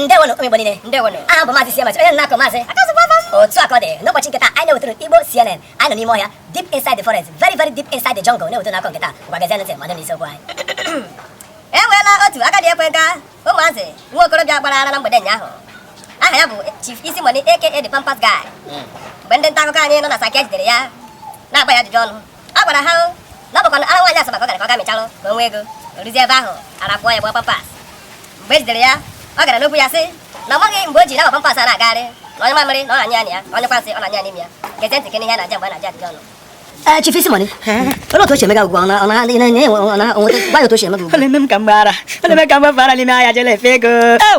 ndewonụ ụmụ Igbo niile ndewonụ aha m bụ maazị Siemens onye na-akọ maazị otu akụkọ dị n'ụbọchị nke taa anyị na-ewetara unu Igbo CNN anyị nọ n'ime ọhịa deep inside the forest very very deep inside the jungle na-ewetara unu akụkọ nke taa ngwa gezienụ ntị ma nụ isiokwu anyị e nweela otu agadi ekwe nka ụmụazị nwa okorobịa gbara ara na mgbede ụnyaahụ aha ya bụ Chief Easy Money aka the Pampers Guy mgbe ndị nta akụkọ anyị nọ na Saket jidere ya na-agba ya ajụjụ ọnụ a gwara ha na ọ bụkwa na ara nwaanyị asaba ka ọ gara ka ọ ga mịchalụ ka o nwee ego o ruzie ebe ahụ ara pụọ ya gbaa pampers mgbe e jidere ya ọ gara n'okwu ya sị na ọ maghị mgbe o ji na pampers a na-agagharị na ọ nyụọ mamịrị na ọ na-anyụ ya na ọ nyụkwa nsị ọ na-anyụ ya n'ime ya gezie ntị ka ị nụ ihe ọ na-aza mgbe a na-ajụ ya ajụjụ ọnụ ee chief Easy Money olee otu o si eme gị ugbu a ọ na- ọ na- na- na- enwe- ọ na- o nweta- gwa anyị otu o si eme gị ugbu a Ọ na-eme m ka m gbara. Ọ na-eme ka m gbafara n'ime ahịa jele efe ego. Ew!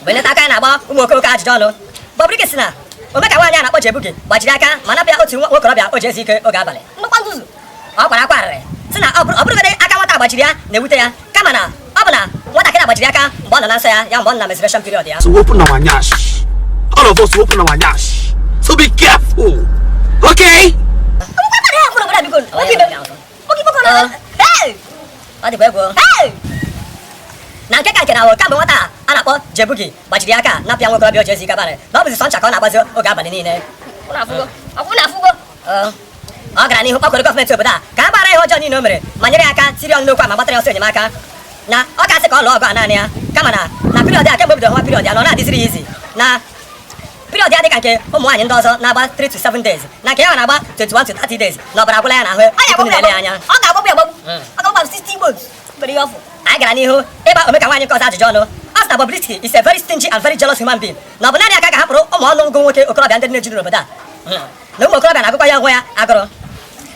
mgbe ndị nta akụkọ anyị na-agba ụmụ okorobịa ajụjụ ọnụ Bobrisky sị na ome ka nwaanyị a na-akpọ Jay Boogie gbajiri ya aka ma napụ ya otu nwa okorobịa o ji ezu ike oge abalị nnukwu nzuzu ọ kwara akwa arịrị sị na ọ bụrọ- ọ bụrọgodị aka nwata a gbajiri ya na-ewute ya kama na ọ bụ na nwatakịrị a gbajiri ya aka mgbe ọ nọ na nsọ ya ya mgbe ọ nọ na menstruation period ya So open our nyash. All of us will open our nyash. So be careful. Okay? Nwatakịrị a kwuru obodo a biko, obi ibe m. na nke ka nke na ọ bụ kemgbe nwata a na-akpọ Jay Boogie gbajiri ya aka napụ ya nwa okorobịa o ji ezu ike abalị na ọ bụzi sọ ncha ka ọ na-agbazi oge abalị niile ọ gara n'ihu kpọkuru gọọmenti obodo a ka ha gbaghara ihe ọjọọ niile o mere ma nyere ya aka tiri ọnụ n'okwu a ma gbatara ya ọsọ enyemaka na ọ ka-asị ka ọ lụọ ọgụ a naanị ya kama na na period a kemgbe o bidoro hụwa period ya na ọ naghị adịziri ya easy na Period ya dị ka nke ụmụ nwaanyị ndị ọzọ na-agba 3 to 7 days na nke ya na-agba 21 to 30 days na ọbara agwụla ya n'ahụ tupu na-ele ya anya ọ ga-agbagbu ya agbagbu hmm. ọ ga-agbagbu 60 igbo mgbere ihe ọfụ anyị gara n'ihu ịgba omeka nwaanyị nke ọzọ ajụjụ ọnụ a sị na Bobrisky is a very stingy and very jealous human being na ọ bụ naanị ya ka a hapụrụ ụmụ ọnụ ngụ nwoke okorobịa ndị na-ejuru n'obodo a hmm. na ụmụ okorobịa na-agụkwa ya nwa agụụ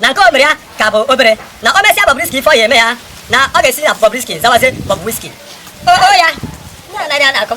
na nke o mere ya ka bụ obere na o mesịa Bobrisky ife ọ ya-eme ya na ọ ga-esi na Bobrisky zawazie Bob Whiskey o ya na-anaghị a na-akọ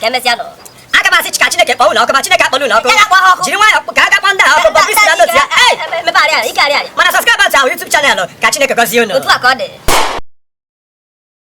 ka emesịanụ aga m asị ka Chineke kpọọ unu ọkụ ma Chineke akpọla unu ọkụ jiri nwayọọ ka a ga-akpọ ndị ahụ ọkụ Bobrisky na ndị otu ya mana subscribe our YouTube channel ka Chineke gọzie unu